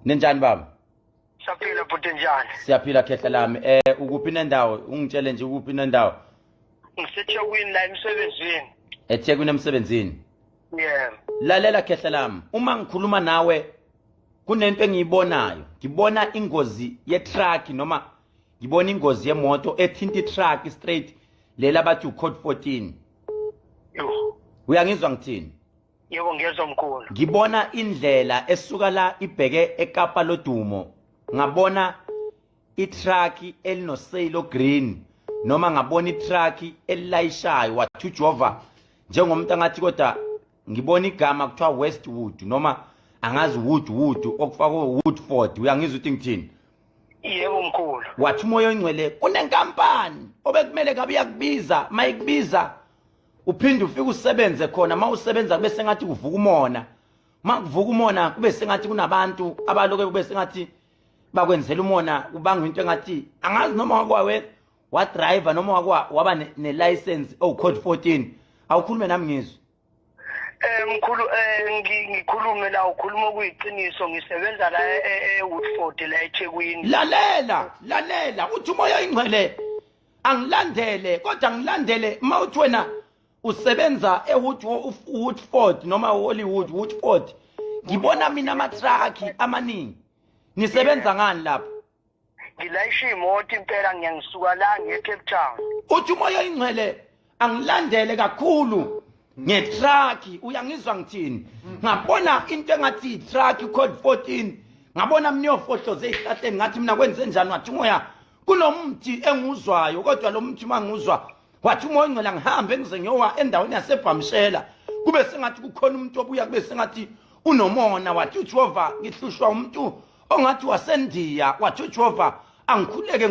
Ninjani baba? Siyaphila bhuti njani? Siyaphila khehla lami. Eh ukuphi nendawo? Ungitshele nje ukuphi nendawo? Ngisethekwini la emsebenzini. Ethekwini emsebenzini? Yeah. Lalela khehla lami. Uma ngikhuluma nawe kunento engiyibonayo. Ngibona ingozi ye truck noma ngibona ingozi yemoto ethinta itruck straight lela bathi ucode 14 uyangizwa ngithini yebo ngiyezwa mkhulu ngibona indlela esuka la ibheke ekapa lodumo ngabona itruck elinoseyilo green noma ngabona itruck elilayishayo wathujova njengomuntu angathi kodwa ngibona igama kuthiwa westwood noma angazi wood wood okufakwe woodford uyangizwa ukuthi ngithini yebo mkhulu wathi umoya oyingcwele kunenkampani obekumele kabe uyakubiza mayikubiza uphinde ufike usebenze khona uma usebenza kube sengathi kuvuka umona uma kuvuka umona kube sengathi kunabantu abaloke kube sengathi bakwenzela umona kubanga into engathi angazi noma wakwawe wadriver noma wakwa waba ne-license owucode 14 awukhulume nami ngizwe Eh mkhulu eh ngikhulume la ukhuluma kuyiqiniso ngisebenza la eWoodford e, e, la eThekwini. Lalela, lalela uthi umoya ingcwele angilandele kodwa ngilandele mawuthi wena usebenza eWoodford noma Hollywood Woodford ngibona mina amatruck amaningi nisebenza ngani lapho ngilayisha imoto impela ngiyangisuka la ngiye Cape Town uthi umoya ingcwele angilandele kakhulu ngetruck uyangizwa ngithini ngabona into engathi itruck code 14 ngabona mina uyofohloze ezihlahleni ngathi mina kwenze njani wathi umoya kunomthi enguzwayo kodwa lo mthi manguzwa wathi umoya ongcela ngihambe ngize ngiyowa endaweni yasebhamshela kube sengathi kukhona umuntu obuya kube sengathi unomona wathi uJehova ngihlushwa umuntu ongathi wasendiya wathi uJehova angikhuleke